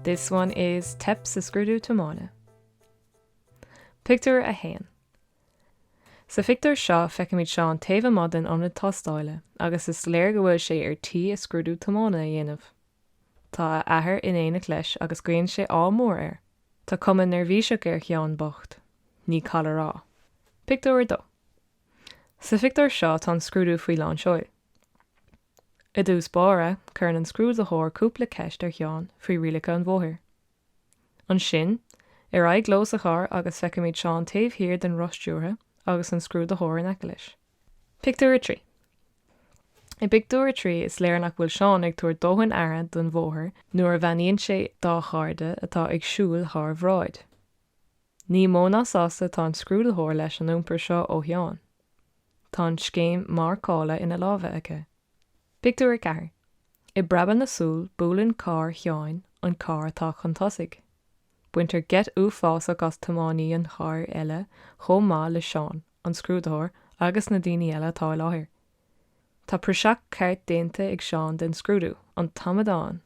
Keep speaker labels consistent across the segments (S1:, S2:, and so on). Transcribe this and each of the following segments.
S1: This one is Teip sa scrúdú tiomána. Pictiúr 1 Sa phictiúr seo feicimid Seán taobh amuigh den ionad tástála agus is léir go bhfuil sé ar tí a scrúdú tiomána a dhéanamh. Tá a athair in éineacht leis agus guíonn sé ádh mór air. Tá cuma neirbhíseach ar Sheán bocht. Ní call a rá. Pictiúr 2. Sa phictiúr seo tá an scrúdú faoi lán seoil. I dtús báire, cuireann an scrúdaitheoir cúpla ceist ar Sheán faoi rialacha an bhóthair. Ansin, ar aghaidh leo sa charr agus feicimid Seán taobh thiar den roth stiúrtha agus an scrúdaitheoir in aice leis. Pictiúr 3 I bpictiúr a trí, is léir nach bhfuil Seán ag tabhairt dóthain aire don bhóthar nuair a bheannaíonn sé dá chairde atá ag siúl thar a bhráid. Ní mó ná sásta atá an scrúdaitheoir leis an iompar seo ó Sheán. Tá an scéim mharcála ina lámha aige. Pictiúr 4 I bpreabadh na súl buaileann carr Sheáin an carr atá chun tosaigh. Baintear geit uafásach as tiománaí an chairr eile chomh maith le Seán, an scrúdaitheoir agus na daoine eile atá i láthair. Tá praiseach ceart déanta ag Seán den scrúdú, an t-amadán!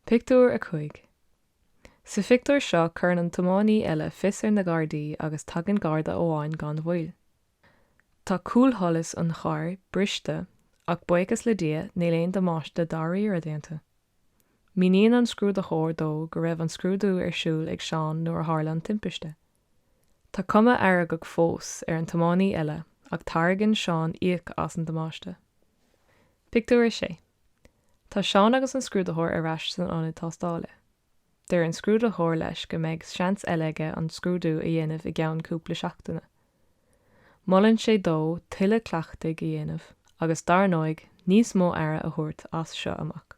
S1: Pictiúr 5 Sa phictiúr seo cuireann an tiománaí eile fios ar na Gardaí agus tagann Garda amháin gan mhoill. Tá cúlsholas an chairr briste ach buíochas le Dia níl aon damáiste dáiríre déanta. Míníonn an scrúdaitheoir dó go raibh an scrúdú ar siúl ag Seán nuair a tharla an timpiste. Tá cuma fheargach fós ar an tiománaí eile ach tairgeann Seán íoc as an damáiste. Pictiúr 6 Tá Seán agus an scrúdaitheoir ar ais san ionad tástála. Deir an scrúdaitheoir leis go mbeidh seans eile aige an scrúdú a dhéanamh i gceann cúpla seachtaine. Molann sé dó tuilleadh cleachtaidh a dhéanamh agus, dar ndóigh, níos mó aire a thabhairt as seo amach.